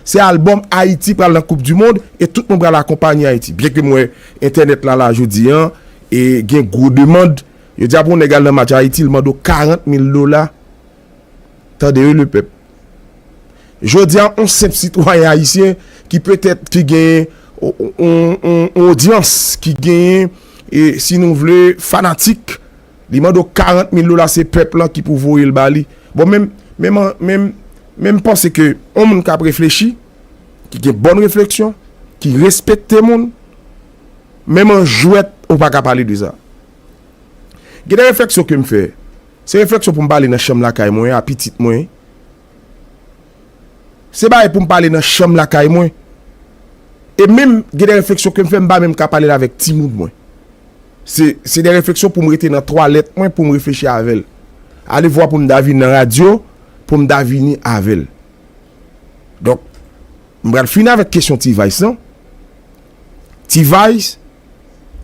Se album Ayiti pral nan koup di mond e tout moun pral akonpanye Ayiti. Byen ke m wè entènèt la la jodi an e gen gwo demand. Yo di a pou yon nèg al nan match Ayiti l mande w 40 mil dola. Tande wi le pèp. Jodi a yon senp sitwayen ayisyen ki petèt ki genyen yon odyans, ki genyen e si nou vle fanatik. Li mande w 40 mil dola se pèp lan ki pou voye l ba li. Bon men m men m panse ke yon moun k ap reflechi, ki gen bòn refleksyon, ki respekte moun, menm an jwèt ou pa ka pale de sa. Gen de refleksyon ke m fè, se refleksyon pou m pale nan chanm lakay mwen a pitit mwen. Se bagay pou m pale nan chanm lakay mwen. E menm gen de refleksyon ke m fè m pa menm ka pale l avèk timoun mwen. Se de refleksyon pou m rete nan twalèt mwen pou m reflechi avè l. Alevwa pou m ta vin nan radyo pou m ta vini avè l. Donk, m pral fini avèk kesyon T-Vice lan. T-Vice,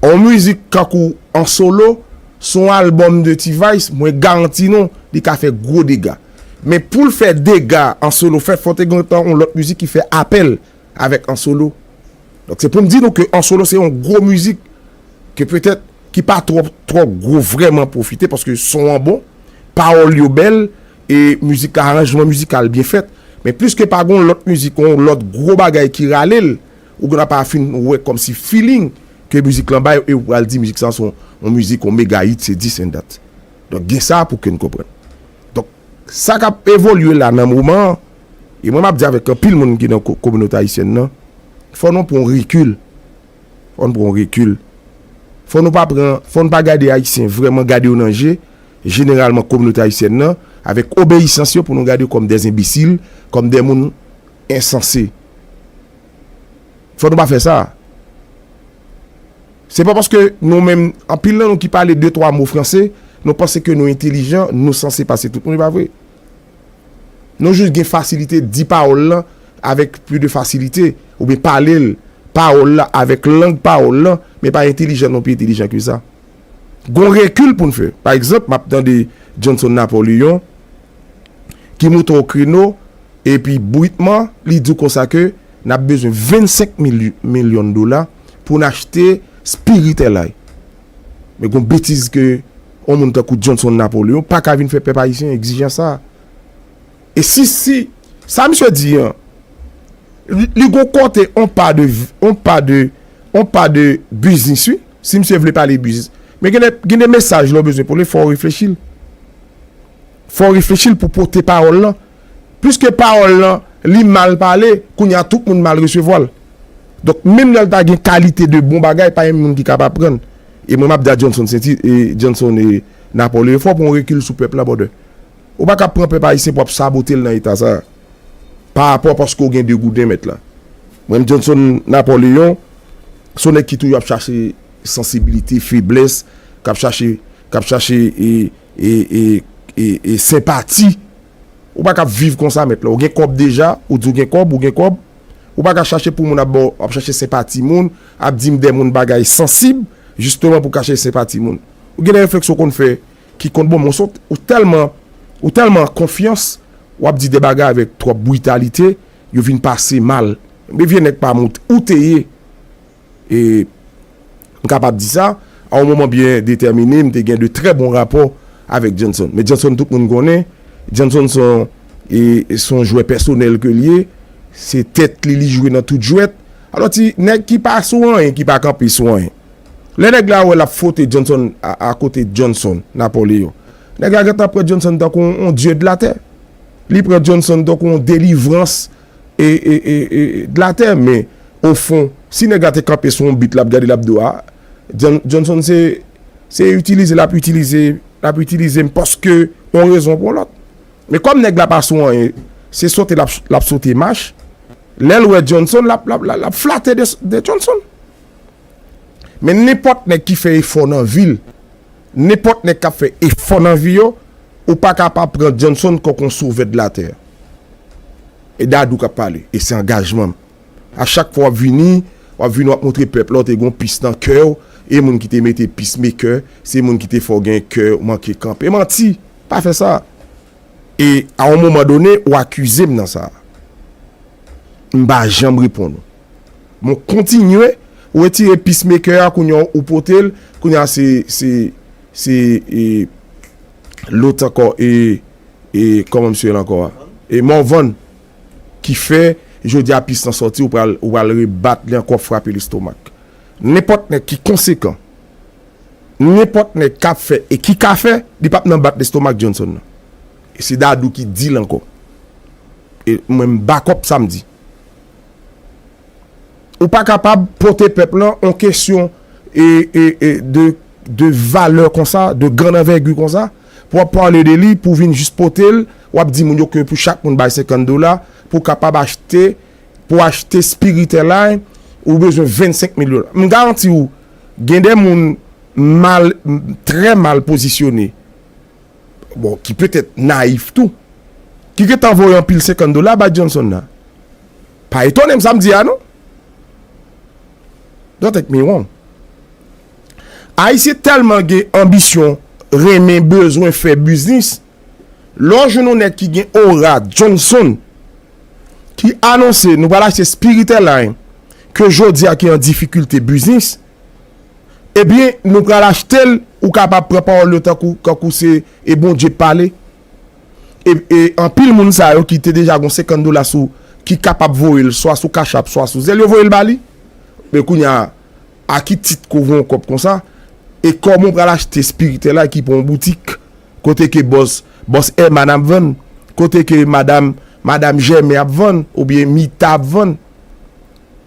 On mizik kankou an solo sou on album de T-vice mwen garanti nou li ka fè gwo dega. Men poul fè dega an solo fè fò te gentan on lòt mizik ki fè apèl avèk an solo. Donk se poum di nou ke an solo se on gwo mizik ke petèt ki pa twò twò gwo vrèman pwofite paske son an bon, pawòl yo bèl e mizik la aranjman mizikal byen fèt. Men pliske pa gon lòt mizik on lòt gwo bagay ki ralel. Ou gen dwa pa fin wè kòmsi feeling ke mizik lan bay e ou pral di mizik sa se yon mizik yon mega hit se dis and dat. Donk gen sa pou ke n konprann. Donk sa k ap evolye la nan moman an e mwen m ap di avèk anpil moun ki nan kominote ayisyèn nan fò nou pran yon rekil fò nou pran yon rekil fò nou pa pran fò nou pa gade ayisyen vrèman gade yo nan je jeneralman kominote ayisyèn nan avèk obeyisans yo pou nou gade yo kòm dè enbesil kòm dè moun ensanse Fò nou pa fè sa. Se pa paske nou menm, anpil nan nou ki pale de twa mo franse, nou panse ke nou entelijan, nou sanse pase tout moun, e pa vre. Nou jis gen fasilite di pawòl lan avèk pli de fasilite, oubyen pale l, pawòl la, avèk lang pawòl lan, men pa entelijan nou pi entelijan ke sa. Gon rekil pou n fè. Pa egzanp, m ap tande Johnson Napoleon ki moute o kreno epi britman li di w konsa ke n ap bezwen 25 milyon dola pou n achte Spirit Airlines. Men gon betiz ke yon moun tankou Johnson Napoleon pa ka vin fè pèp ayisyen egzijans sa a. E si si sa misye di an li gon kote on pa de on pa de on pa de biznis wi. Si misye vle pale biznis. Men gen de gen de mesaj lè w bezwen pale fò w reflechi l. Fò w reflechi l pou w pote pawòl lan. Piske pawòl lan li mal pale, kounye a tout moun mal resevwa l. Donk menm lè l ta gen kalite de bon bagay pa gen moun ki kab aprann. E mwen m ap di a Johnson Sainty e Johnson e Napòl yo fò pran w rekil sou pèp la brother. Ou pa ka pran pèp ayisyen pou ap sabote l nan eta sa a. Pa rapò paske ou gen de gouden mèt la. Mwen menm Johnson Napoleon se yon nèg ki toujou ap chache sansibilite, feblès, k ap chache k ap chache e e e e senpati. Ou pa ka ap viv konsa mèt la. Ou gen kòb deja, ou di ou gen kòb, ou gen kòb. Ou pa ka chache pou moun ap ba w, ap chache senpati moun, ap di m dè moun bagay sansib jisteman pou kache senpati moun. Ou gen de reflèks ou konn fè. ki konn bon men ou tèlman ou tèlman an konfyans wap di de bagay avèk twòp britalite yo vin pase mal men vye nèg pam ou te ye e m kapab di sa a yon moman byen detèmine m te gen de trè bon rapò avèk Johnson men Johnson tout moun konnen Johnson se yon e se yon jwè pèsonèl ke l ye se tèt li li jwe nan tout jwèt alò ti nèg ki pa sou anyen ki pa kanpe sou anyen. Lè nèg la wè l ap fwote Jhonson a kote Jhonson, Napoleon, nèg la gentan pran Jhonson tankou yon dye de latè. Li pran Jhonson tankou yon delivrans e de latè. Men, ofon, si nèg la te kanpe sou yon bit l ap gade l ap do a, Jhonson se se itilize l ap itilize l ap itilize m paske yon rezon pou yon lòt. Men kòm nèg la pa sou anyen, se sote l ap sote mach, lè l wè Jhonson l ap l ap l ap flate de Jhonson. Men nenpòt nèg ki fè efò nan vi l, nenpòt nèg k ap fè efò nan vi yo, ou pa ka pa pran Johnson kòk yon sovè de latè. E Dadou k ap pale, e se angajman m. A chak fwa w ap vini, w ap vini w ap montre pèp la w te gen yon pis nan kè w, e moun ki te mete pis mekè, se moun ki te fè w gen kè w manke kanpe. Manti! Pa fè sa! E a yon moman done, ou akize m nan sa. M pa janm reponn ou. Bon kontinye retire peace maker a kounya ou potel kounya se se se e lot ankò e e kòman misye rele ankò a e Morvan ki fè jodia peace lan sòti ou pral ou pral rebat li ankò frape l estomak nenpòt nèg ki konsekan nenpòt nèg kap fè e ki ka fè li pap nan bat lestomak Johnson nan e se Dadou ki dil ankò e mwen m bakòp sa m di. Ou pa kapab pote pèp lan on kesyon de valè konsa, de grand anvègi konsa, pou ap pale de li, pou vin jis pote l, w ap di moun yo ke pou chak moun bay 50 dola, pou kapab achte, pou achte spiritèlay, ou bezwen 25 mil dola. M garanti ou, gen de moun mal, trè mal pozisyone. bon ki petèt nayif tou ki gentan voye anpil 50 dola bay Johnson la pa etone m sa m di a non don't take me wrong Ayisyen tèlman gen anbisyon renmen bezwen fè biznis lè w jwenn yon nèg ki gen ora Johnson ki anonse nou pral achte Spirit Airline ke jodi a ki an difikilte biznis Ebyen nou pral achtel ou kapab pran pawòl yo tankou kankou se e Bondye k pale e anpil moun sa yo ki te deja gon 50 dola sou ki kapab voyel swa sou cash app swa sou zelle yo voyel ba li men kounya a ki tit ke w voye yon kòb konsa e kòman w pral achte spiritè la ki pou yon boutik kote ke bòs bòs Herman ap vann kote ke madam madam Jèmen ap vann oubyen Mita ap vann.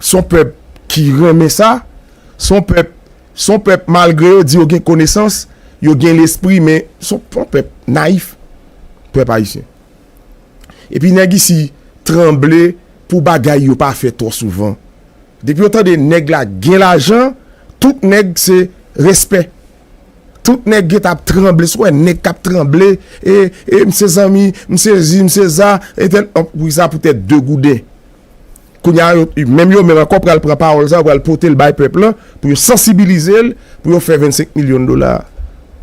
Son pèp ki renmen sa. Son pèp, son pèp malgre yo di yo gen konesans, yo gen lespri men son pèp nayif. Pèp ayisyen. Epi nèg isi tranble pou bagay yo pa fè twò souvan. Depi yo tande nèg la gen lajan, tout nèg se respè. Tout nèg gen tap tranble, sou wè nèg kap tranble, e, e, misye zanmi, misye zi, misye za, etèl, poukisa poutèt 2 gouden. Kounye a, menm yo menm ankò pral pran pawòl sa yo, pral pote l bay pèp lan pou yo sansibilize l pou yo fè 25 milyon dola a.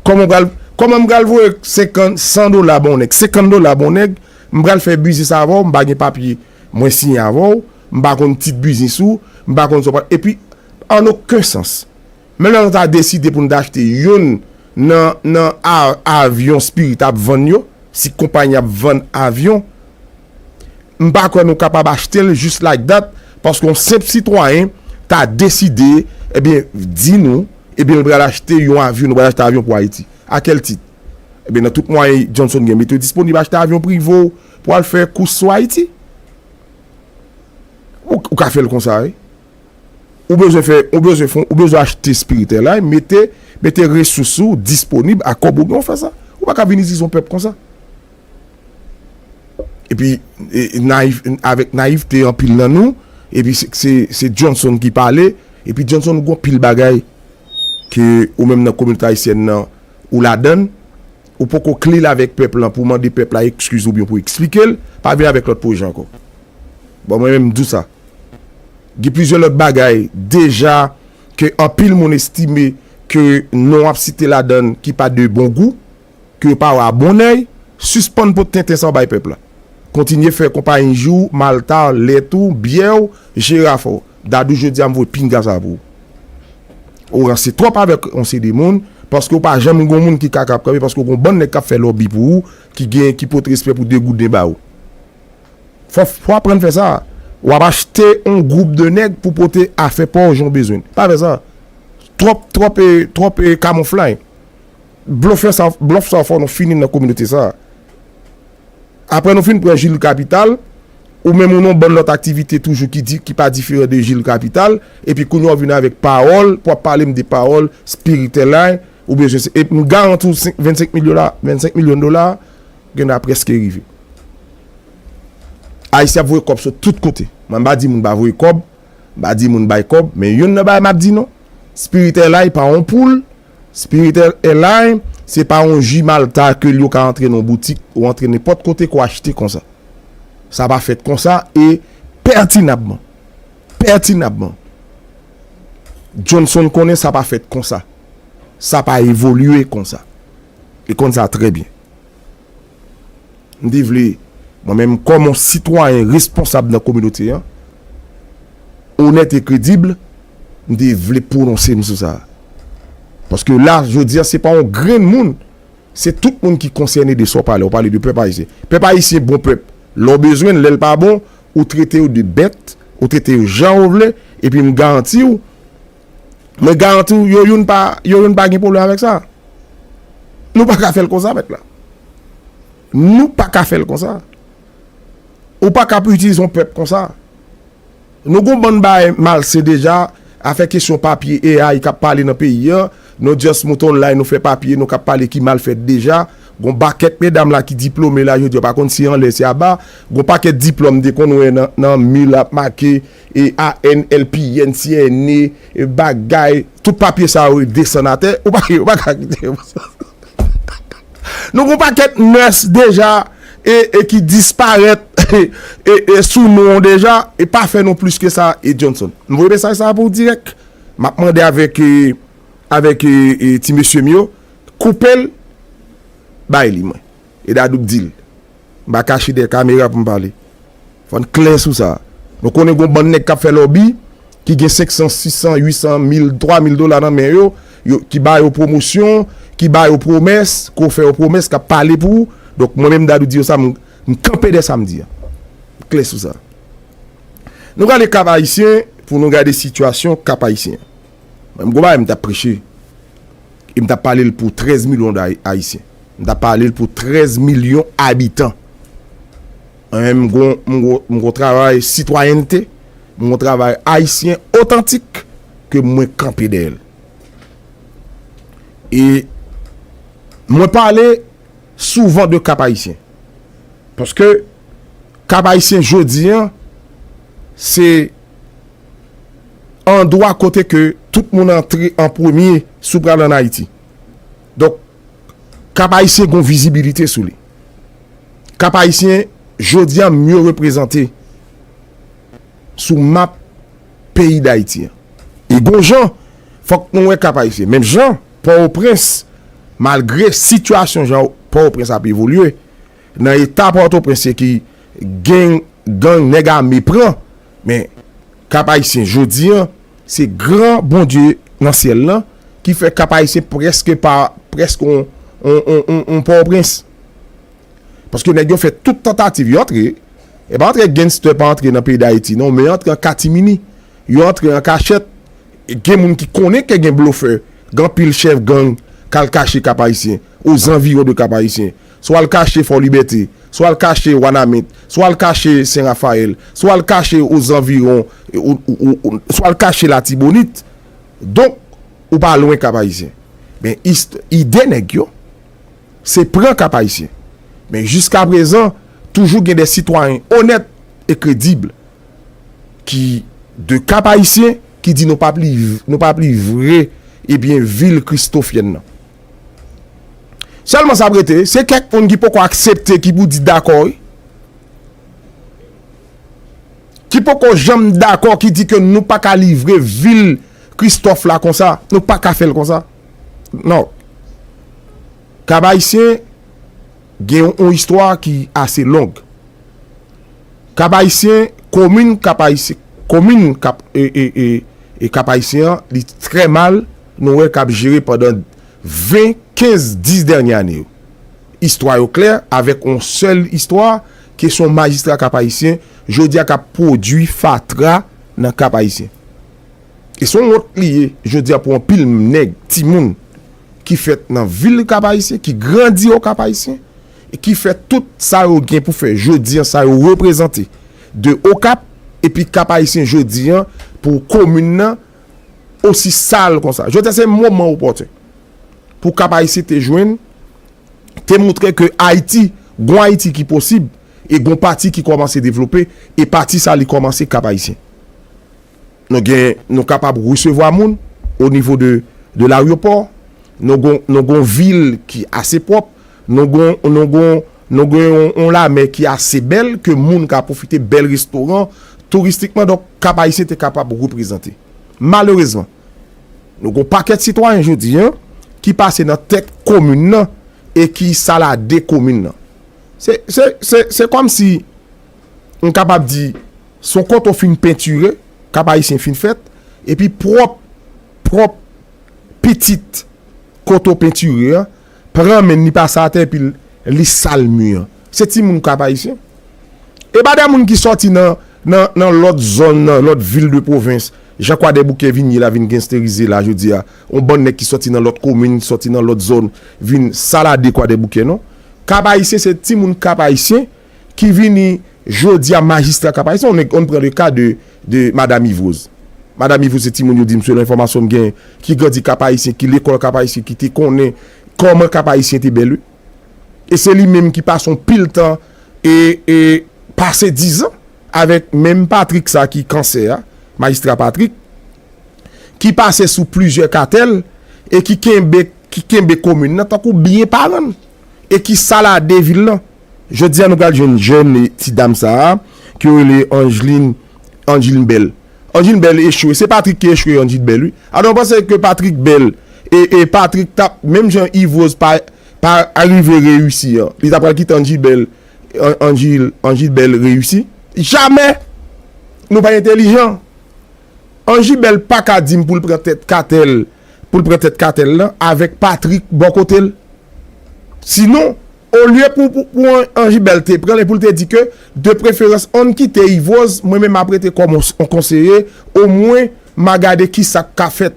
Kòman m pral, kòman m pral voye senkan, san dola ba yon nèg, senkann dola ba yon nèg, m pral fè biznis avè w, m pa gen papye mwen siyen avè w, m pa konn tit biznis ou, m pa konn sa w pral, epi an oken sans. Men lè nou ta deside pou nou ta achte youn nan nan avyon Spirit ap vann yo, si konpayi an ap vann avyon, m pa kwè nou kapab achte l just like that paske yon senp sitwayen ta deside ebyen di nou ebyen l pral achte yon avyon, nou pral achte avyon pou Ayiti. A kèl tit? Ebyen nan tout mwayen Johnson gen mete yo disponib achte avyon prive w pou al fè kous sou Ayiti. Ou ka fè l konsa wi. Ou bezwen fè, ou bezwen fon, ou bezwen achte spiritèlay, mete, mete resous ou disponib a kòb ou gen ou fè sa. Ou pa ka vini zizon pèp konsa. Epi nayif, avèk nayifte anpil nan nou, epi se, se Johnson ki pale, epi Johnson ou gon pil bagay ke ou menm nan kominote ayisyèn nan ou ladann. Ou poko clean avek pèp lan pou mande pèp la excuse oubyen pou explikel, pa vin avek lot pwojè anko. Bon mwen menm m di w sa. Gen plizyè lot bagay deja ke anpil moun estime ke non wap site ladann ki pa de bon gou, ke yo pa wè a bon oeil, sispann pot tenten sa w bay pèp la. Kontinye fè konpayi jou w, malta w, lèt ou, byè w, jiraf w. Dadou jodia m voye pinga sa pou ou. Ou ranse twòp avèk yon seri moun paske ou pa janm gon moun ki ka kap kanpe paske ou gon bann nèg kap fè lòbi pou ou ki gen ki pot respè pou 2 gouden ba ou. Fò w aprann fè sa. Ou ap achte yon gwoup de nèg pou pote afè pa w jan w bezwen l. Pa fè sa. Twòp twòp e twòp e kamouflay. Blofè sa w blòf sa w fè w nou fini nan kominote sa. Aprè nou fin pran jil kapital, ou menm ou nan yon bann lòt aktivite toujou ki di, ki pa diferan de jil kapital, epi kounye a ou vin avèk pawòl pou ap pale m de pawòl spiritèlay ou bezwen se, epi m garanti w 5, 25 mil dola, 25 milyon dola a gen lè a prèske rive. Ayisyen ap voye kòb sot tout kote. Mwen m pa di moun pa voye kòb, m pa di moun bay kòb, men youn nan bagay m ap di nou, spiritèlay pa yon poul Spirit Airline se pa yon ji malta ke li yo ka antre nan yon boutik ou antre nenpòt kote kou achte konsa. Sa pa fèt konsa e pètinabman, pètinabman, Johnson konnen sa pa fèt konsa. Sa pa evolye konsa. Li konn sa trè byen. M te vle, mwen menm kòm yon sitwayen responsab nan kominote an, onèt e kredib, m te vle pwononse m sou sa. Paske la, jodi a, se pa yon grenn moun, se tout moun ki konsène de sa w pale. Ou pale de pèp ayisyen. Pèp ayisyen bon pèp. Lè w bezwen l, lè l pa bon, ou trete yo de bèt, ou trete yo jan ou vle, epi m garanti w, Mwen garanti w yo youn pa yo youn pa gen pwoblèm avèk sa. Nou pa ka fè l konsa mèt la. Nou pa ka fè l konsa. Ou pa ka ap itilize yon pèp konsa. Nou gon bann bagay malsen deja, afè kesyon papye AI k ap pale nan peyi an, nou just moute online nou fè papye nou k ap pale ki mal fèt deja, gon bakèt medam la ki diplome la jodi yo pa konn si anlè si aba, gon pakèt diplòm m te konn wè nan mi l ap make ANLP, NCNE, bagay, tout papye sa yo desann atè, ou pa yo pa ka kite yo konsa. Nou gen yon pakèt mœurs deja e ki disparèt e sou non w deja e pa fè nou plis ke sa e Johnson. M voye mesaj sa pou w dirèk. M ap mande avèk avèk ti mesye m yo koupe l bay li mwen. E Dadou k di l. M pa kache dèyè kamera pou m pale. Fò n klè sou sa. Nou konnen gon bann nèg k ap fè lòbi, ki gen senksan, sisan, uitsan, mil, twa mil dola nan men yo, yo, ki ba yo pwomosyon, ki ba yo pwomès, ko fè yo pwomès, k ap pale pou ou. Donk, mwen menm Dadou di yo sa, m, m kanpe dèyè sa m di an. M klè sou sa. Nou prale Kap Ayisyen pou nou gade sitiyasyon Kap Ayisyen. Mwen menm gon bagay m t ap preche. E m t ap pale l pou 13 milyon Ayisyen. M ta pale l pou 13 milyon abitan. Anyen m gon m gon travay sitwayènte, m gon travay ayisyen otantik ke mwen kanpe dèyè l. E mwen pale souvan de Kap Ayisyen. Paske Kap Ayisyen jodi an se andwa kote ke tout moun antre an premye si w pral an Ayiti. Donk, Kap Ayisyen gon vizibilite sou li. Kap Ayisyen jodi a mye reprezante sou map peyi Dayiti an. E gon jan fòk nou wè Kap Ayisyen. Menm jan Pòtoprens, malgre sitiyasyon jan Pòtoprens ap evolye, nan eta Pòtoprens se ki gen gang nèg ame pran. Men, Kap Ayisyen jodi an, se gran Bondye nan syèl lan ki fè Kap Ayisyen prèske pa, prèske yon Pòtoprens. Paske nèg yo fè tout tantativ, yo antre, e pa antre genstè pa antre nan peyi Dayiti non, men yo antre an katimini, yo antre an kachèt, e gen moun ki konnen ke gen blofè, gen anpil chèf gang kal kache Kap Ayisyen, ozanviwon de Kap Ayisyen. swa l kache Fò Libète, swa l kache Wanament, swa l kache Sen Rafayèl, swa l kache ozanviron, swa l kache Latibonit. Donk, ou pa lwen Kap-Ayisyen. Men, ide nèg yo, se pran Kap-Ayisyen. Men, jiskaprezan, toujou gen de sitwayen onèt e kredib ki de Kap-Ayisyen ki di nou pa p livre, nou pa p livre, ebyen, vil kristofyèn nan. Sèlman sa ap rete, se kèk moun ki poko aksepte ki pou di dakò wi. Ki poko janm dakò ki di ke nou pa ka livre vil Kristòf la konsa, nou pa ka fè l konsa. Non. Kab Ayisyen gen yon istwa ki ase long. Kab Ayisyen, komin kab Ayisyen, komin kab e e e kab Ayisyen an li trè mal. nou wè k ap jere pandan 20, 15, 10 dènye ane yo. Istwa yo klè, avèk yon sèl istwa, ke se yon majistra Kap Ayisyen, jodi a k ap pwodui fatra nan Kap Ayisyen. E se yon wont li ye, jodi a pou anpil nèg, timoun, ki fèt nan vil Kap Ayisyen, ki grandi o Kap Ayisyen, e ki fè tout sa yo gen pou fè jodi a, sa yo reprezante de Okap, epi Kap Ayisyen jodi a, pou komin nan, osi sal konsa. Jodi a se moman opòtun pou Kap Ayisyen te jwenn, te moutre ke Ayiti, gon Ayiti ki posib e gon pati ki kòmanse devlope e pati sa li kòmanse Kap Ayisyen. Nou gen, nou kapab resevwa moun o nivo de de laryopò, nou gon, nou gon vil ki ase pwòp. Nou gon nou gon nou gen yon yon lamè ki ase bèl ke moun ka pwofite bèl restoran touristikman donk Kap Ayisyen te kapab reprezante. Malerezman, nou gon pakèt sitwayen jodi an ki pase nan tèt komin nan e ki salade komin nan. Se se se se kòmsi m kapab di se yon kote w fin pentire, Kap Ayisyen fin fèt, epi pwòp pwòp pitit kote w pentire an Pran menn li pase atè epi li sal mu an. Se ti moun kap ayisyen. E pa de moun ki soti nan nan lot zon nan lot vil de provens jan kwadèboukè vin ye la vin gensterize la jodi a. On bann nèg ki soti nan lot komin soti nan lot zon vin salade kwadèboukè non. Kap ayisyen se ti moun kap ayisyen. ki vini jodia majistra kapay son nèg on pran le ka de de madam ivroz madam ivroz se timoun yo dim selon enfòmasyon m gen ki grandi kapayisyen ki lekòl kapayisyen ki te konnen kòman kapayisyen te bèl wi e se li menm ki pase on pil tan e e pase dizan avèk menm patrik sa ki kansè a majistra patrik ki pase sou plizyè katèl e ki kenbe ki kenbe komin nan tankou byen paran l e ki salade vil lan. Jodi a nou pral jwenn jèn ti dam sa a ke yo rele Angeline Angeline Belle Angeline Belle echwe se Patrick ki echwe Angeline Belle wi alò nou panse ke Patrick Belle e e Patrick tap menm jan Yves Rose pa pa arive reyisi an li ta pral kite Angeline Belle An Angeline Angeline Belle reyisi jamè nou pa entèlijan Angeline Belle pa ka dim pou l pran tèt katèl pou l pran tèt katèl lan avèk Patrick bò kote l sinon. Olye pou pou Anjibel te pranl e poul te di ke de preferans onn kite Yves Rose mwen menm ap rete kòm on konseye o mwen ma gade kisak ka fèt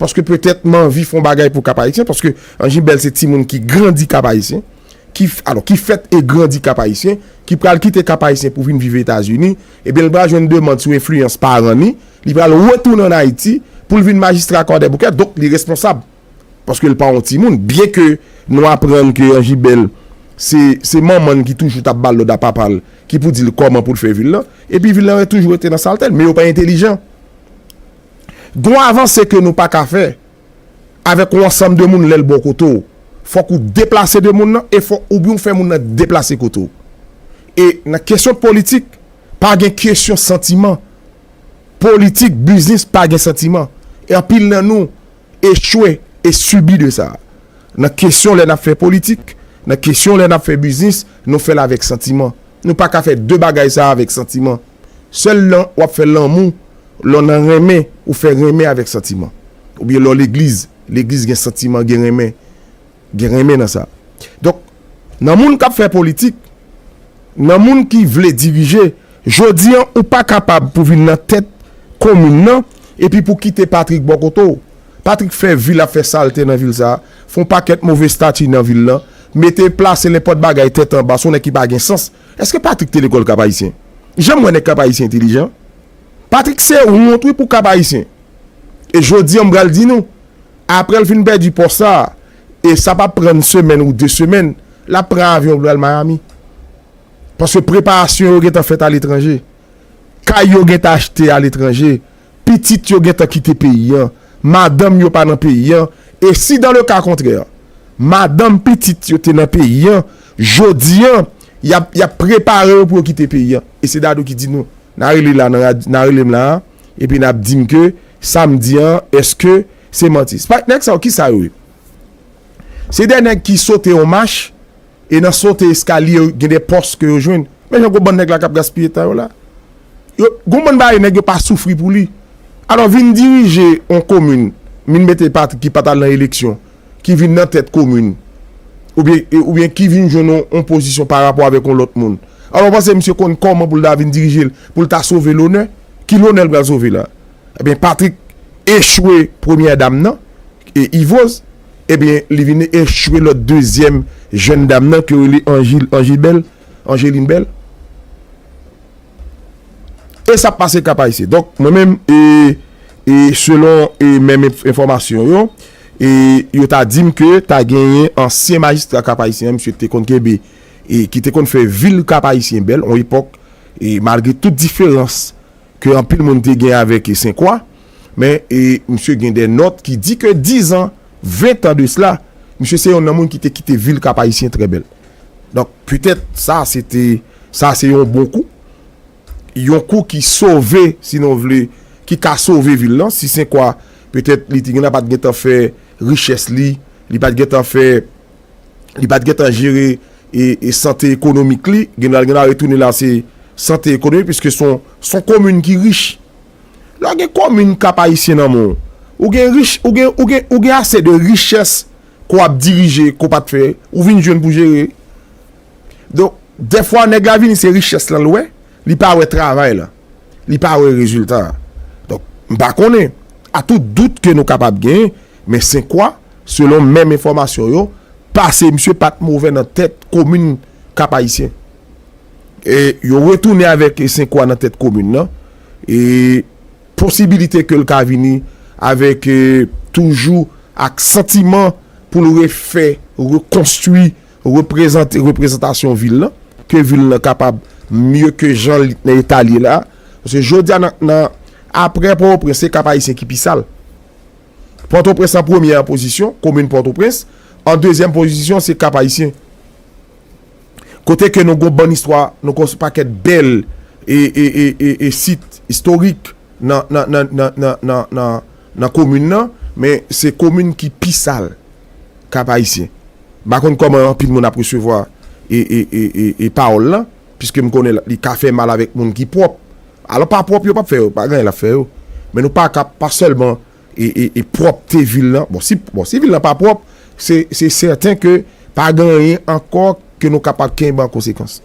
paske petèt manvi fon bagay pou Cap Haïtien paske Anjibel se timoun ki grandi Cap Haïtien ki alò ki fèt e grandi Cap Haïtien ki pral kite Cap Haïtien pou vin viv Etazini ebyen li pral jwenn demand sou enfliyans paran ni li pral retounen an Ayiti poul vin majistra Kwadèboukè donk li responsab. paske l pa yon timoun byen ke nou aprann ke Angy Bel se se manman n ki toujou t ap ba l lòd a papa l ki pou di l kòman pou l fè vi l lan epi vi l lan toujou rete nan salte l men yo pa entelijan gon avanse ke nou pa ka fè avèk yon ansanm de moun lè l bò kote w fòk ou deplase de moun lan e fò oubyen ou fè moun lan deplase kote w e nan kesyon politik pa gen kesyon santiman politik biznis pa gen santiman e anpil nan nou. echwe e sibi de sa. Nan kesyon lè n ap fè politik, nan kesyon lè n ap fè biznis, nou fè l avèk santiman. Nou pa ka fè de bagay sa avèk santiman. Sèl lè w ap fè lanmou, lè w nan renmen, ou fè renmen avèk santiman. Oubyen lè w legliz, legliz gen santiman, gen renmen. Gen renmen nan sa. Donk, nan moun k ap fè politik, nan moun ki vle dirije, jodi an ou pa kapab pou vin nan tèt komin nan epi pou kite Patrick bò kote w. Patrick fè vi l ap fè salte nan vil sa a, fè yon pakèt move stati nan vil lan, mete, plase lenpòt bagay tèt anba, se yon nèg ki pa gen sans. Èske Patrick te lekòl Kapayisyen? Janm wè nèg Kapayisyen entelijan. Patrick se wont wi pou Kapayisyen. E jodi an m pral di nou. Aprè l fin pèdi pòs sa, e sa pa pran n semèn ou de semèn, l ap pran avyon pou l al Miami. Paske preparasyon yo gentan fèt aletranje. Kay yo gentan achte aletranje. Pitit yo gentan kite peyi an. Madanm yo pa nan peyi an. E si dan le ka kontrè, madanm, pitit yo te nan peyi an, jodi an, y ap prepare yo pou yo kite peyi an. E se Dadou ki di nou, nan rele la, nan rele m la a. Epi nap dim ke sam di an eske se manti. Spike nèg sa yo kisa yo ye? Se 2 nèg ki sote yon mach e nan sote eskalye yo gen 2 pòs ke yo jwenn. Men jan gwo bann nèg la kap gaspiye tan yo la. Yo gon bann bagay nèg yo pa soufri pou li. Alò vin dirije yon komin, vin mete Patrick ki pat al nan eleksyon. ki vin nan tèt komin, oubyen oubyen ki vin jwenn yon yon pozisyon pa rapò avèk yon lòt moun. Alò ou panse misye konn kòman pou l ta vin dirije l, pou l ta sove lonè? Ki lonè l pral sove la? Ebyen Patrick echwe premyè dam nan, e Yvoz, ebyen li vin echwe lòt dezyèm jèn dam nan ke yo rele Anjil Anjil Bèl, Angeline Bèl. E sa pase Kap Ayisyen. Donk mwen menm e e selon e menm enfòmasyon yo, E yo ta di m ke ta genyen ansyen majistra Kap Ayisyen an, misye te konn kenbe, e ki te konn fè vil Kap Ayisyen bèl on epòk, e malgre tout diferans ke anpil moun te gen avèk e Senkwa, men e misye gen dè nòt ki di ke dizan, ventan de sela, misye se yonn nan moun ki te kite vil Kap Ayisyen trè bèl. Donk petèt sa se te, sa se yon bon kou. yon kou ki sove, si nou vle, ki ka sove vil lan, si sen kwa, petèt li te gen nan pa t gen tan fè richès li, li pa t gen tan fè, li pa t gen tan jere e sante ekonomik li, gen nan l gen nan retounen la se sante ekonomik, piske se yon komin ki rich. Lè w gen komin Kap Ayisyen nan men w, ou gen rich, ou gen, ou gen, ou gen ase de richès ke w ap dirije ke w pa t fè, ou vin jwenn pou jere. Donk, dèfwa nèg la vini se richès lan l wè, li pa wè travay lan, li pa wè rezilta a. Donk, m pa konnen, a tout dout ke nou kapab genyen, men Senkwa, selon menm enfòmasyon yo, pase misye pa t movè nan tèt komin Kap-Ayisyen. E yo retounen avèk Senkwa nan tèt komin lan, e posibilite ke l ka vini avèk toujou ak santiman pou l refè, rekonstwi, Reprezante reprezantasyon vil lan, ke vil lan kapab mye ke jan li t nan eta li ye la, paske jodi a nan nan aprè Pòtoprens se Kap Ayisyen ki pi sal. Pòtoprens an premye an pozisyon, komin Pòtoprens, an dezyèm pozisyon se Kap Ayisyen. Kote ke nou gon bann istwa, nou gon pakèt bèl e e e e sit istorik nan nan nan nan nan nan nan. Nan komin nan, men se komin ki pi sal Kap Ayisyen. M pa konn kòman anpil moun ap resevwa e pawòl lan, piske m konnen li ka fè mal avèk moun ki pwòp. Alò pa pwòp yo pap fè yo, pa gen anyen lap fè yo. Men nou pa ka pa sèlman e pwòpte vil lan, bon si bon si vil lan pa pwòp, se se sèten ke pa gen anyen ankò ke nou kapab kenbe an konsekans.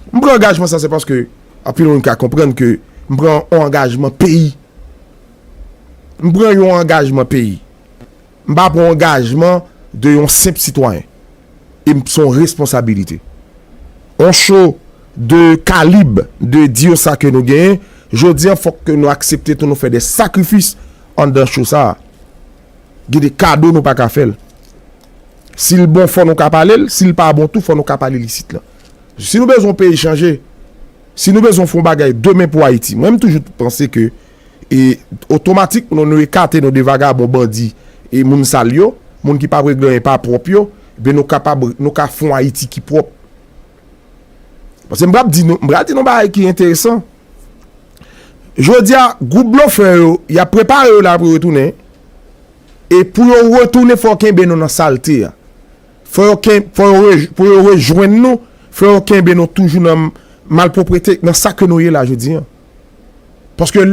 M pran angajman sa se paske anpil moun ka konprann ke m pran yon angajman peyi. M pran yon angajman peyi. M pa pran angajman de yon senp sitwayen. E m son responsabilite. On show de kalib de dire sa ke nou genyen, jodi an fòk ke nou aksepte tou nou fè de sakrifis anndan show sa a. Gen de kado nou pa ka fè l. Si l bon fò nou ka pale l, si l pa bon tou fò nou ka pale l isit lan. Si nou bezwen peyi chanje. Si nou bezwen fon bagay demen pou Ayiti, mwen m toujou t panse ke e otomatik non nou ekate nou de vagabon bandi e moun sal yo, moun ki pa vle gen anyen pa pwòp yo, ebyen nou kapab nou ka fon Ayiti ki pwòp. Pase m pral di nou, m pral di nou bagay ki enteresan. Jodia gwoup blofè yo, y ap prepare yo la pou yo retounen e pou yo retounen fò w kenbe nou nan salte a. Fò yo ken, fò yo re, pou yo rejwenn nou, fò yo kenbe nou toujou nan malpwoprete, nan sa ke nou ye la jodi an. Paske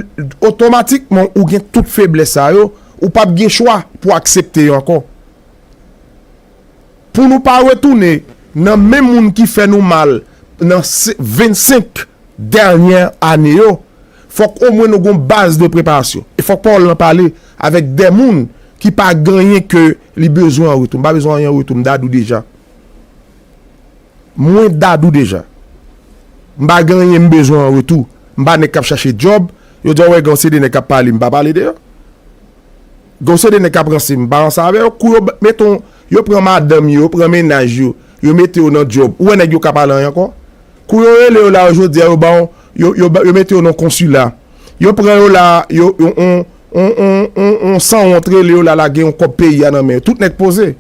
otomatikman ou gen tout feblès sa yo, ou pap gen chwa pou aksepte yo ankò. Pou nou pa retounen nan menm moun ki fè nou mal nan 25 dènyè ane yo, fòk omwen nou gon baz de preparasyon. E fòk pawòl lan pale avèk de moun ki pa ganyen ke li bezwen an retou. M pa bezwen anyen an retou, m dadou deja. Mwen dadou deja. M pa ganyen m bezwen an retou. M pa nèg k ap chache djòb. Yo dja wè gen yon seri de nèg k ap pale, m pa pale de yo. Gen yon seri de nèg k ap ranse, m pa ranse avè yo. Kou yo mete yon, yo pran madanm yo, yo pran mennaj yo, yo mete yo nan djòb, ou wè nèg yo ka pale anyen ankò? Kou yo rele yo la yo jodi a yo ba w yo mete yo nan konsila yo pran yo la yo yon sanwont rele yo la lage yon kòb peyi a nan men yo tout nèg poze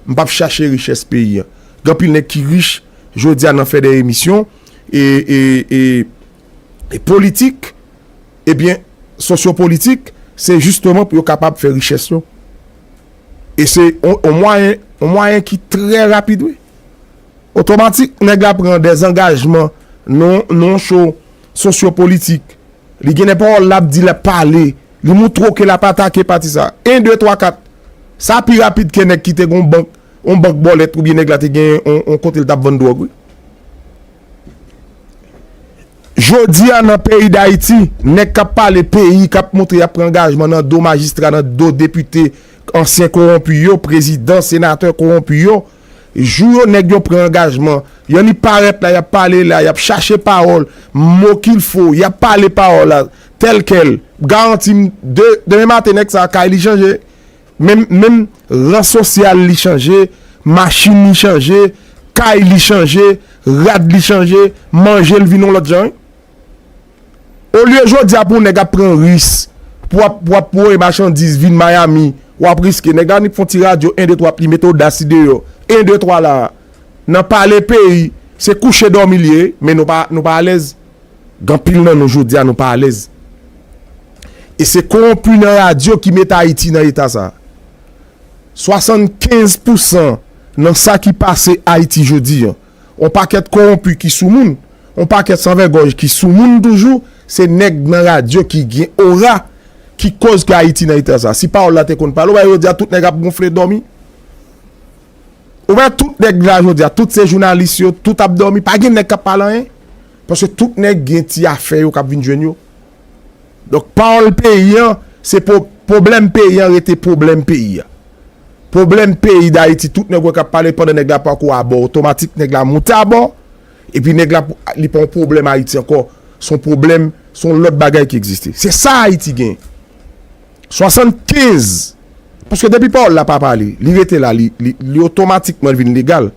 m pap chache richès peyi a gen anpil nèg ki rich jodi a nan fè de emisyon e politik ebyen sosyo politik se jisteman pou yo kapab fè richès yo e se yon mwayen yon mwayen ki trè rapid wi. Otomatik nèg la pran dezangajman nan yon cho sosyo politik. Li gen de pawòl l ap di, l ap pale, li moutre w ke l ap atake pati sa. 1, 2, 3, 4. Sa pi rapid ke nèg ki te gen yon bank, yon bank bòlèt oubyen nèg la te gen yon kote l t ap vann dwòg wi. Jodi a nan peyi Dayiti, nèg k ap pale peyi, k ap moutre y ap pran angajman nan do majistra, nan do depite, ansyen kowonpi yo, prezidan, senatè kowonpi yo. Jou yo nèg yo pran angajman, yon li parèt la yap pale la, yap chache pawòl, mo kil fo, yap pale pawòl la tèl kèl, m garanti m de demen maten nèg sa kay li chanje, menm menm ran sosyal li chanje, machin li chanje, kay li chanje, rad li chanje, manje l vin yon lòt jan wi. Olye jodi a pou nèg ap pran ris pou wap pou wap voye machandiz vin Miami wap riske nèg la annik fon ti radyo 1 2 3 li mete odasli deyò 1 2 3 la nan pale peyi se kouche dòmi li ye men nou pa nou pa alèz gen anpil nan nou jodi a nou pa alèz e se kowonpi nan radyo ki met Ayiti nan eta sa 75 pousan nan sa ki pase Ayiti jodi an. On pakèt kowonpi ki sou moun, on pakèt san vègòj ki sou moun toujou, se nèg nan radyo ki gen ora ki koz ke Ayiti nan eta sa. Si pawòl la te konn pale, ou pa wè jodi a tout nèg ap gonfle dòmi? Ou wè tout nèg la jodi a, tout se jounalis yo, tout ap dòmi, pa gen nèg kap pale anyen? Paske tout nèg gen ti afè yo kap vin jwenn yo, Donk pawòl peyi an se pou pwoblèm peyi an rete pwoblèm peyi an. Pwoblèm peyi dayiti tout nèg wè k ap pale pandan nèg la pako abò otomatik nèg la moute abò epi nèg la li pa yon pwoblèm ayiti ankò s on pwoblèm s on lòt bagay ki egziste se sa ayiti gen 75 paske depi pawòl la pa pale li rete la li otomatikman vin legal.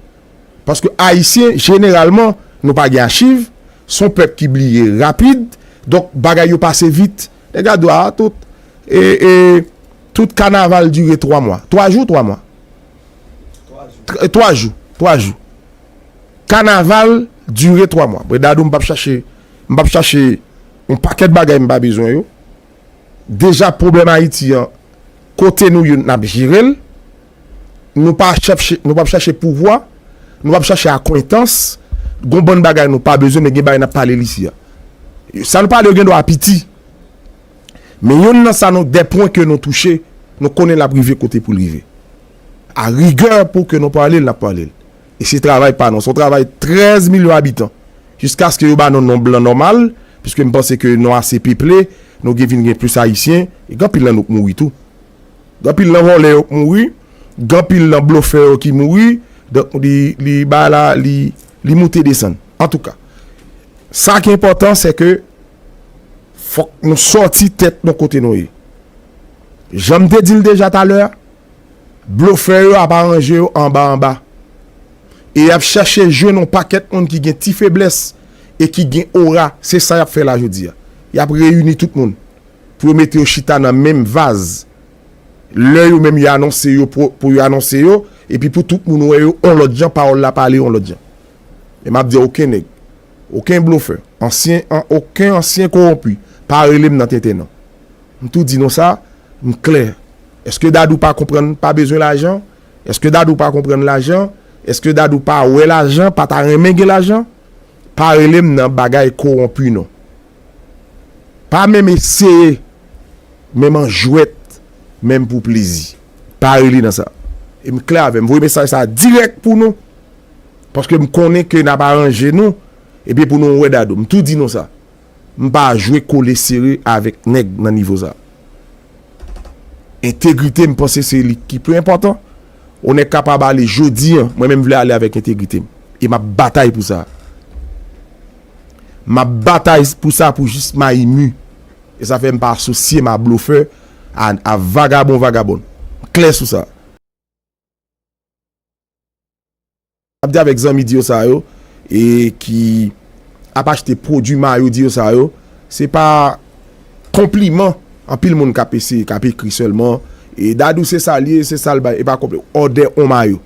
Paske Ayisyen jeneralman, nou pa gen achiv, s on pèp ki bliye rapid, donk bagay yo pase vit. E gad w a, tout e, e, tout kanaval dire twa mwa. Twa jou, twa mwa? Twa jou, twa jou. Kanaval dire twa mwa. Bon, Dadou, m p ap chache, m p ap chache yon pakèt bagay m pa bezwen yo. Deja pwoblèm Ayiti an, kote nou ye n ap jere l. Nou pa chèche, nou pap chache pouvwa, nou pap chache akwentans, gon bann bagay nou pa bezwen men gen bagay nap pale l isi a. Sa nou pale yo gen dwa piti men yonn nan sa nou, 2 pwen ke nou touche nou konnen lap rive kote pou l rive. A rigè pou ke nou pale l nap pale l. E se travay pa nou, se yon travay 13 milyon abitan jiskaske yo ba nou non blan nòmal piske m panse ke nou ase peple, nou gen vin gen plis ayisyen, gen anpil nan nou k mouri tou. Gen anpil nan vòlè yo k mouri, gen anpil nan blofè yo ki mouri, donk li bagay la li moute desann. Antouka, sa ki enpòtan se ke fòk nou sòti tèt nou kote nou ye. Jan m te di l deja talè a, blofè yo ap aranje yo anba anba e y ap chache jwenn yon pakèt moun ki gen ti feblès e ki gen ora, se sa y ap fè la jodi a. Y ap reyini tout moun. pou yo mete yo chita nan menm vaz lè yo menm yo anonse yo pou yo anonse yo epi pou tout moun wè yo on lòt jan pawòl la pale on lòt jan e map di oken nèg oken blofè ansyen an oken ansyen kowonpi pa rele m nan tenten non m tou di nou sa m klè èske dadou pa konprann pa bezwen lajan èske dadou pa konprann lajan èske dadou pa wè lajan pa ta renmen gen lajan pa rele m nan bagay kowonpi non. Pa menm eseye menm an jwèt menm pou plezi pa rele nan sa e m klè avè m voye mesaj sa dirèk pou nou paske m konnen ke nap aranje nou ebyen pou nou wè dadou m tou di nou sa m pa jwe kole sere avèk nèg nan nivo sa entegrite m panse se li ki pi enpòtan yon nèg kapab ale jodi an mwen menm vle ale avèk entegrite m e map batay pou sa. Map batay pou sa pou jis mayi mu e sa fè m pa asosye m a blofè a vagabon vagabond. M klè sou sa. Map di avèk zanmi diyo sa yo e ki ap achte pwodwi mayo diyo sa yo se pa konpliman anpil moun kap eseye kap ekri sèlman e Dadou se sa l ye se sa l bay e pa konpliman. Odè on mayo.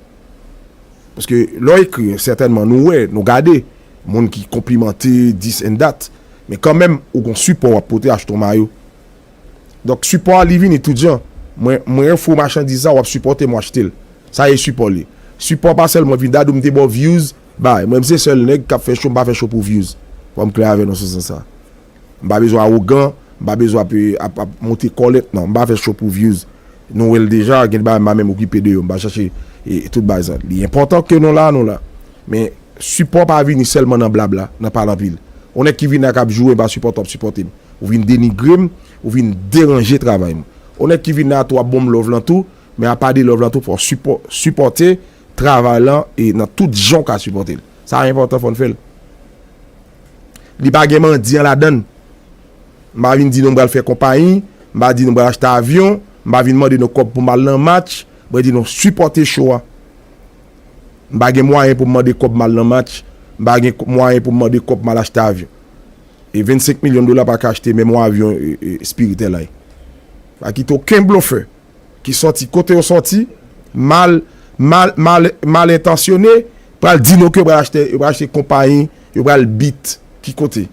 Paske lè w ekri, sètènman nou wè, nou gade, moun ki konplimante dis and dat, men kanmenm ou gon sipò w ap pote achte yon mayo. Donk sipò a li vini tout jan. Mwen, mwen ofri w machandiz sa, w ap sipòte m, w achte l. Sa e sipò li. Sipò a pa sèlman vin dadou m te ba w views, bay. Mwen m se sèl nèg k ap fè show, m pa fè show pou views. Fò m klè avè nou sou sans sa. M pa bezwen awogan, m pa bezwen ap ap ap monte kòlèt nan, m pa fè show pou views. Nou wè l deja, gen de bagay m pa menm okipe de yo, m pa chache tout bagay sa. Li enpòtan ke nou la, nou la. Men, sipò pa vini sèlman nan blabla, nan pale anpil. Yon nèg ki vin la k ap joure m pa sipòte w ap sipòte m. Ou vin denigre m, ou vin deranje travay m. Yon nèg ki vin la tou ap bon m love lan tou, men apa de love lan tou fò w sipò sipòte travay lan e nan tout jan w ka sipòte l. Sa enpòtan fò n fè l. Li pa gen mandyan ladan l. M pa vin di nou m pral fè konpayi, m pa di nou m pral achte avyon, m pa vin mande nou kòb pou m al nan match. Mwen di nou sipòte show a. M pa gen mwayen pou m mande kòb m al nan match, m pa gen mwayen pou m mande kòb m al achte avyon. E 25 milyon dola pa ka achte menm yon avyon Spirit Airline. Pa kite okenn blofè Ki sòti kote yo sòti, mal, mal, mal, mal entansyone, pral di nou ke yo pral achte, yo pral achte konpayi, yo pral beat. Ki kote?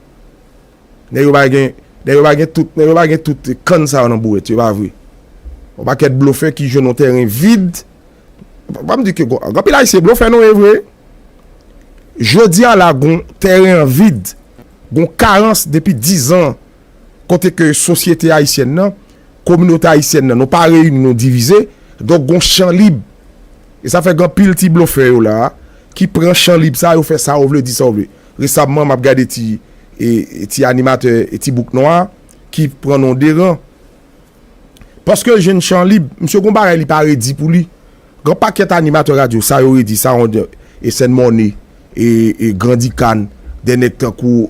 Nèg yo pa gen, nèg yo pa gen tout, nèg yo pa gen tout kann sa yo nan bourèt yo, e pa vre? Yon pakèt blofè ki jwenn yon tèren vid, fò pa m di ke gon, gen anpil Ayisyen blofè nou, e vre? Jodi a la gon tèren an vid, gon karans depi dizan. kote ke sosyete ayisyèn nan, kominote ayisyèn nan nou pa reyini nou divize, donk gon chan lib. E sa fè gen anpil ti blofè yo la a ki pran chan lib sa a yo fè sa yo vle, di sa yo vle. Resamman m ap gade ti animatè ti bouk nwa a ki pran non deran. Paske jèn chan lib, misye gon bagay li pa redi pou li. Gen pakèt animatè radyo, sa yo redi, sa yon Ecène Morne, e Grandi Khan, dè nèg tankou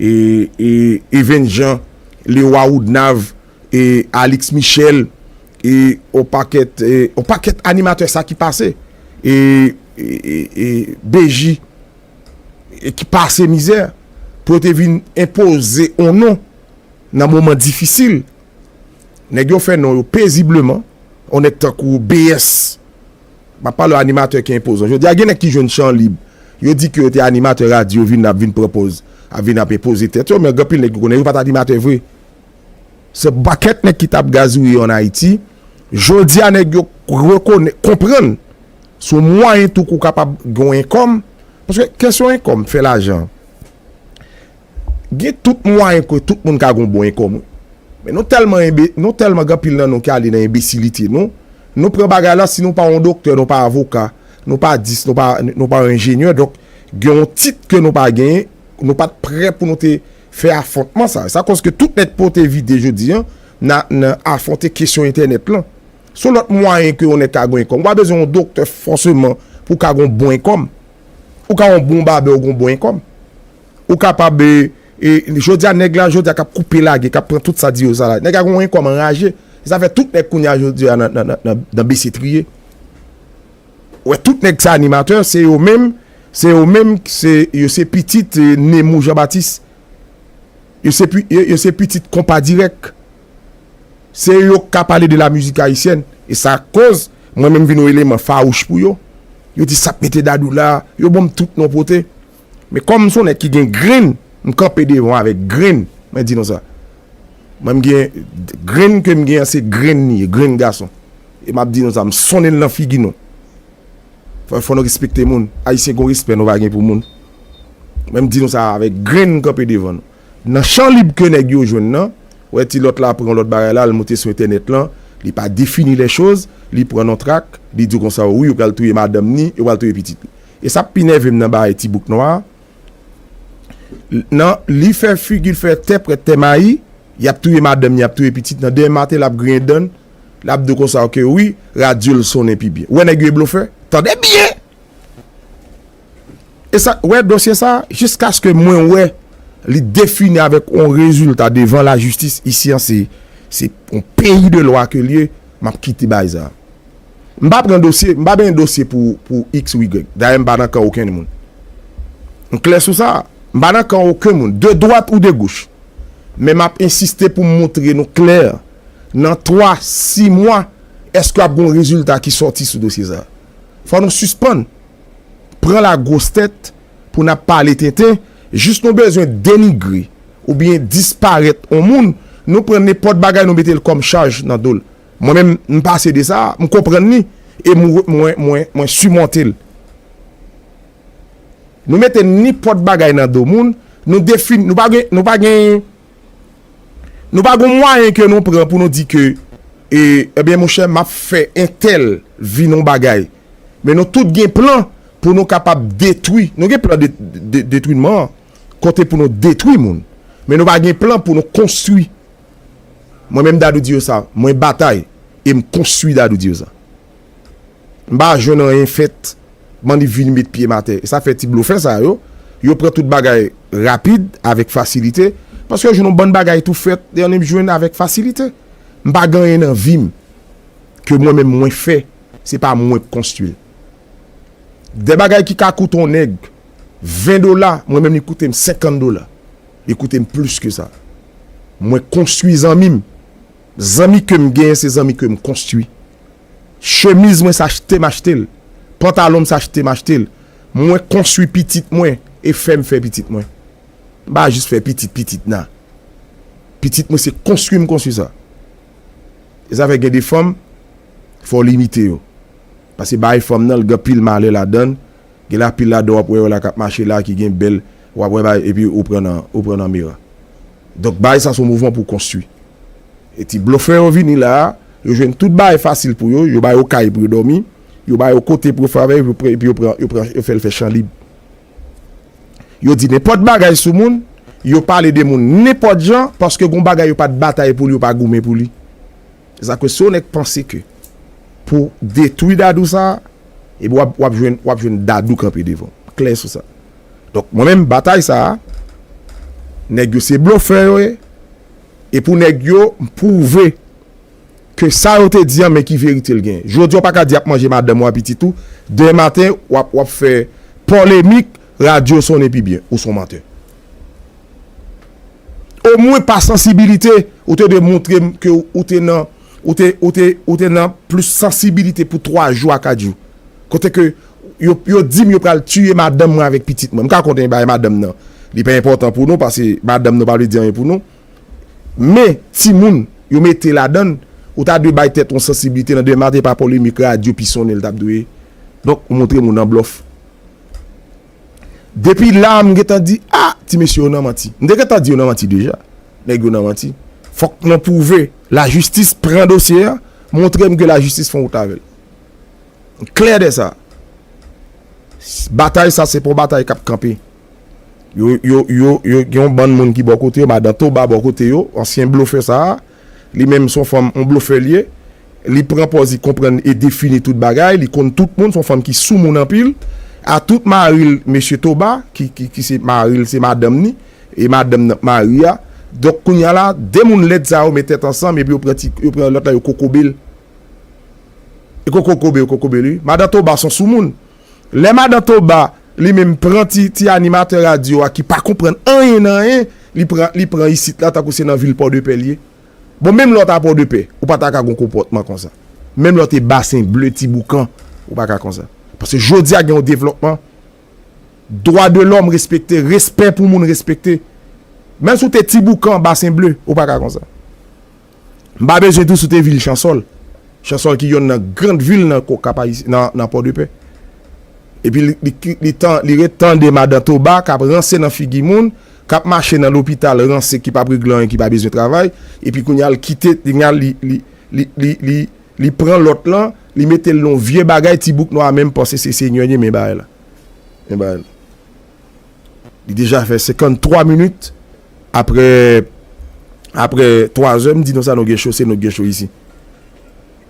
Even Jean, Leroy Woodnav, e Alix Michel, e yon pakèt, yon pakèt animatè sa ki pase. E BJ, ki pase mizè, pou yo te vin enpoze yon non. Nan moman difisil, nèg yo fè non yo pezibleman, yon nèg tankou BS, m ap pale yon animatè ki enpozan. Jodi a gen nèg ki jwenn chan lib, yo di ke yo te animatè radyo vin ap vin pran pòz, ap vin ap enpoze tèt yo, men gen anpil nèg ou konnen yo pa t animatè vre. Se yon pakèt nèg ki t ap gazouye an Ayiti, jodi a nèg yo rekonè, konprann se yon mwayen tou ke w kapab gen yon enkòm, paske kesyon enkòm, fè lajan. Gen tout mwayen ke tout moun ka gen yon bon enkom wi. Men nou telman enbe, nou telman gen anpil nan nou ki ale nan enbesilite nou, nou pran bagay la si nou pa yon doktè, nou pa avoka, nou pa dis, nou pa, nou pa yon enjenyè donk gen yon tit ke nou pa genyen, nou pat prè pou nou te fè afontman sa. Sa koz ke tout nèg pote vide jodi an nan nan afonte kesyon entènèt lan. Son lot mwayen ke yon nèg ka gen yon enkom. Ou pa bezwen yon doktè foseman pou ka gen yon bon enkom. Ou ka yon bon babè ou gen yon bon enkom. Ou kapab e jodi a nèg la jodi a kap koupe lage kap pran tout sa di yo sa la. Nèg a gon kòm anraje. Se sa fè tout nèg kounye a jodi a nan bese triye. Ou wè tout nèg sa animatè se yo menm se yo menm se yo se pitit Nemou Jean Baptiste. Yo se yo se pitit konpa dirèk. Se yo ka pale de la mizik ayisyèn. E sa koz mwen menm vin yon eleman fawouch pou yo. Yo di sap mete dadou la. Yo banm tout non pote. Men kòm m son nèg ki gen grenn, m kanpe devan avèk grenn, mwen di nou sa. Mwen m gen, grenn ke m gen an se grenn li ye, grenn gason. E m ap di nou sa, m sonnen l nan figi nou. Fò, fò nou respekte moun. Ayisyen gen yon respè nou pa gen pou moun. Mwen m di nou sa avèk grenn m kanpe devan nou. Nan chan lib ke nèg yo jwenn nan, ou wè ti lòt la pran yon lòt bagay la, l moute sou entènèt lan, li pa defini lè choz, li pran yon trak, li di w konsa, wi yo pral touye madanm ni, yo pral touye pitit li. E sa k pi nève m nan bagay Ti Bouk Nwa a, nan li fè figi l fè tè prèt tè mayi, y ap touye madanm ni y ap touye pitit nan denmen maten l ap griyen dan l, l ap di w konsa ok wi, radyo l sonnen pi byen. Ou wè nèg yo e blofè? Tande byen! E sa, wè dosye sa a, jiskaske mwen wè li defini avèk yon rezilta devan lajistis, isi an se yon peyi de lwa ke l ye, m ap kite bagay sa a. M pa pran dosye, m pa benyen dosye pou pou iks ou igrèg. Dayè m pa nan kan okenn moun. M klè sou sa. M pa nan kan oken moun, de dwat ou de goch. Men m ap ensiste pou m montre nou klè, nan twa, si mwa, èske ap gen yon rezilta ki sòti sou dosye sa a. Fò nou sispann pran lagwostèt pou n ap pale tenten, jis nou bezwen denigre oubyen disparèt yon moun, nou pran nenpòt bagay nou mete l kòm chaj nan do l. Mwen menm, m pase de sa, m konprann li e mwen simonte l. Nou mete nenpòt bagay nan do moun, nou defini, nou pa gen, nou pa gen, nou pa gen yon mwayen ke nou pran pou nou di ke, e, ebyen monchè, m ap fè entèl vin yon bagay. Men nou tout gen plan pou nou kapab detwi, nou gen plan detwinman, kote pou nou detwi moun. Men nou pa gen plan pou nou konstwi. Mwen menm Dadou Dieusa, mwen batay e m konstwi Dadou Dieusa. M pa jwenn anyen fèt m'en li vin met pye m atè. E sa fè ti blofè sa yo, yo pran tout bagay rapid, avèk fasilite, paske yo jwenn yon bann bagay tou fèt e annik jwenn avèk fasilite. M pa gen anyen nan vi m ke mwen menm mwen fè, se pa mwen k konstwi l. Dè bagay ki ka koute yon nèg 20 dola, mwen menm li koute m 50 dola. Li koute m plis ke sa. Mwen konstwi zanmi m. Zanmi ke m genyen se zanmi ke m konstwi. Chemiz mwen se achte m achte l. Pantalon m se achte m achte l. Mwen konstwi pitit mwen e fè m fè pitit mwen. M pa jis fè pitit pitit nan. Pitit mwen se konstwi m konstwi sa. E sa fè gen de fanm fò w limite yo. Pase bagay fanm nan l gen anpil malè ladan l. Gen la pil ladan wap wè yo la kap mache la ki gen bèl wap wè bay epi ou pran nan ou pran nan mera. Donk bay sa son mouvman pou konstwi. E ti blofè yo vini la a, yo jwenn tout bagay fasil pou yo, yo ba yo kay pou yo dòmi, yo ba yo kote pou yo fè afè yo epi yo pran yo pran yo fèl fè chan lib. Yo di nenpòt bagay sou moun, yo pale de moun nenpòt jan paske gon bagay yo pat batay pou li yo pa goumen pou li. Sa ke si yon nèg panse ke pou detwi Dadou sa a, epi w ap jwenn w ap jwenn Dadou kanpe devan w. Klè sou sa. Donk mwen menm batay sa a, nèg yo se blofè yo ye, e pou nèg yo m pwouve ke sa yo te di an men ki verite l genyen. Jodi a w pa ka di y ap manje madanm ou a pitit ou, demen maten w ap w ap fè polemik, radyo sonnen pi byen. Ou s on mantè. O mwen pa sansibilite ou te dwe moutre m ke ou te nan ou te ou te ou te nan plis sansibilite pou 3 jou a 4 jou kote ke yo yo di m yo pral tiye madanm mwen avèk pitit mwen m ka konte bay madanm nan li pa enpòtan pou nou pase madanm nou pa vle di anyen pou nou men timoun yo mete ladan l ou ta dwe bay tèt ou sansibilite nan demen maten pa polemik radyo pi sonnen l tap dwe donk ou moutre m ou nan blòf. Depi la m gentan di ah ti mesye yo nan manti. M te gentan di yo nan manti deja. Nèg yo nan manti. Fòk nou pwouve la jistis pran dosye a, montre m ke la jistis fon wout avèl. M klè de sa. Batay sa se pa yon batay kap kanpe. Yo yo yo yo gen yon bann moun ki bò kote yo, madan Toba bò kote yo, ansyen blofè sa a. Li menm son fanm yon blofè li ye li pran pòz li konprann e defini tout bagay li konn tout moun son fanm ki sou moun anpil a tout maril mesye Toba ki ki se maril se madanm ni e madanm nan k mari a donk kounya la 2 moun lèd sa yo met tèt ansanm epi yo pran ti yo pran lòt la yo kokobel yo kokokobe yo kokobel wi madan Toba son sou moun Lè madan Toba li menm pran ti ti animatè radyo a ki pa konprann anyen nan anyen, li pran li pran isit la tankou se nan vil Pòdepè li ye. Bon menm lè w ta Pòdepè, ou pa ta ka gen yon konpòtman konsa. Menm lè w te Basen Ble, Ti Boukan, ou pa ka konsa. Paske jodi a gen yon devlòpman, dwa de lòm respekte, respè pou moun respekte. Menm si w te Ti Boukan, Basen Ble, ou pa ka konsa. M pa bezwen tou site vil Chansòl, Chansòl ki yonn nan grand vil nan Kap Ayisyen, nan Pòdepè. Epi li ret tande madan Toba k ap ranse nan figi moun, k ap mache nan lopital ranse ki p ap regle anyen, ki pa bezwen travay. Epi kounye a l kite, kounye a li pran lòt lan, li mete l nan yon vye bagay, ti bouk nwa a menm panse se Senyè li men bagay la. Li deja fè 53 minit aprè aprè 3 zè m di nou sa nou gen cho se nou k gen cho isi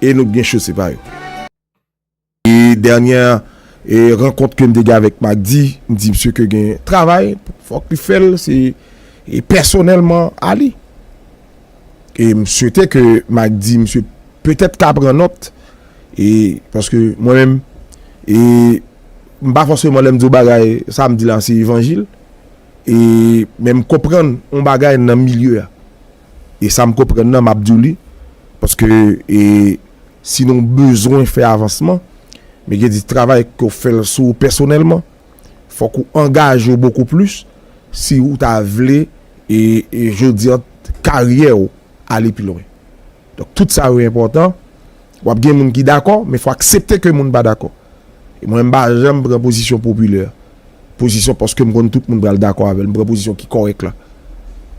e nou k gen cho se pa yo. E dènyè e rankont ke m te gen avèk Magdy m di msye ke gen travay fòk li fè l se e pèsonèlman a li e m swete ke Magdy msye petèt ka pran nòt e paske mwen menm e M pa fòseman lè m di w bagay sa m di la se evanjil e men m konprann on bagay nan milye a e sa m konprann nan m ap di w li paske e si nou bezwen fè avansman men gen di travay ke w fè l sou ou pèsonèlman fòk ou angaje w bokou plis si ou ta vle e jodi an karyè w ale pi lwen. Donk tout sa yo enpòtan, w ap gen moun ki dakò men fò aksepte ke moun pa dakò. E mwen m pa janm pran pozisyon popilè, pozisyon paske m konn tout moun pral dakò avè l, m pran pozisyon ki kòrèk la.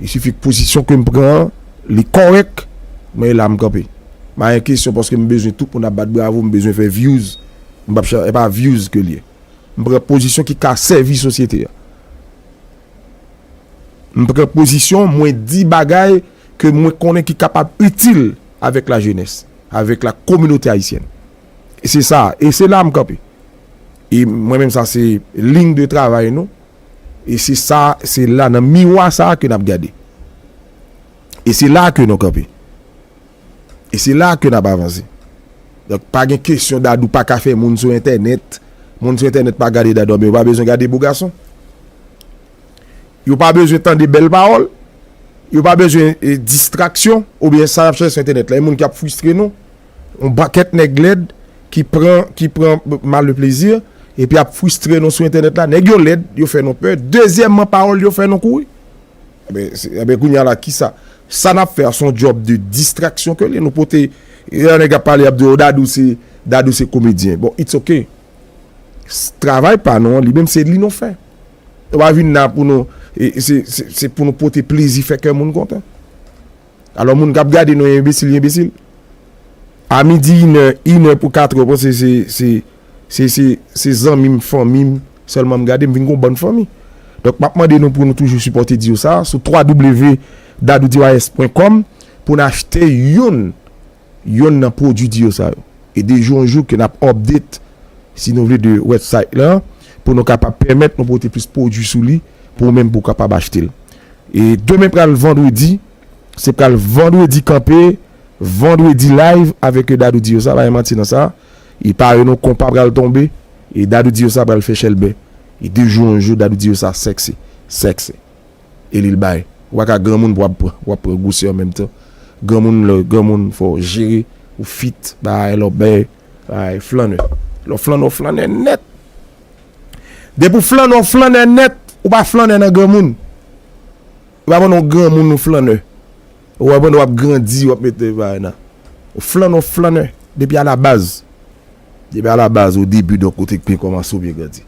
Il suffit ke pozisyon ke m pran an li kòrèk, mwen e la m kanpe. M ayen kesyon paske m bezwen tout moun ap bat bravo, m bezwen fè vyouz, m pap chè, e pa vyouz ke l ye. M pran pozisyon ki ka sèvi sosyete a. M pran pozisyon, mwen di bagay. ke mwen konnen ki kapab itil avèk la jenès, avèk la kominote ayisyèn. E se sa, e se la m kanpe. E mwen menm sa se lign de travay nou, e se sa, se la nan miwa sa ke n ap gade. E se la ke nou kanpe. E se la ke n ap avanse. Donk pa gen kesyon Dadou pa ka fè moun sou entènèt, moun sou entènèt pa gade Dadou, a ben yo pa bezwen gade Bogason. Yo pa bezwen tande bèl pawòl, yo pa bezwen distraksyon oubyen sa y ap chèche sou entènèt la. Gen moun ki ap fristre nou, yon pakèt nèg lèd ki pran, ki pran mal le plaisir epi ap fristre nou sou entènèt la. Nèg yo lèd, yo fè nou pè. Dezyèmman, pawòl yo fè nou kouri. Enben, enben kounye a la ki sa? Sa n ap fè a se yon djòb de distraksyon ke l ye. Nou pote, lè yon nèg ap pale y ap di w Dadou se, Dadou se komedyen. Bon, it's ok. Travay pa nou an li menm se li nou fè. Nou pa vin la pou nou, se pou nou pote plezi fè kè moun kontan. Alò moun kap gade nou enbesil, enbesil. A midi inè, inè pou katre yo panse se, se, se, se, se zanmim, fanmim sèlman m gade m vin gon bann fanmi. Donk map mande nou pou nou toujou sipòte diyo sa sou www. Dadou DYS pwen kòm pou n achte youn. yonn nan pwodwi diyo sa yo. E de jou an jou ke nap update si nou vle de website la pou nou kapab pèmèt nou pote plis pwodwi sou li pou ou menm pou kapab achte l. E demen pral vandredi, se pral vandredi kanpe, vandredi live avèk e Dadou diyo sa, pa gen manti nan sa. E pare nou konpa pral tonbe e Dadou diyo sa pral fè chèlbè. E de jou an jou Dadou diyo sa sexy, sexy. e li l bay. Ou pa ka granmoun pou w ap pran gwosè an menm tan. Granmoun lè w granmoun fò w jere, ou fit bagay la w bèy, bagay flannè. Lè w flannè w flannè nèt. Depi w flannè w flannè nèt, ou pa flannè nan granmoun. Ou pa pandan w granmoun ou flannè. Ou wè pandan w ap grandi w ap mete bagay nan. Ou flannè w flannè depi alabaz. Depi alabaz o debi donk ou te byen kòmanse ou byen grandi.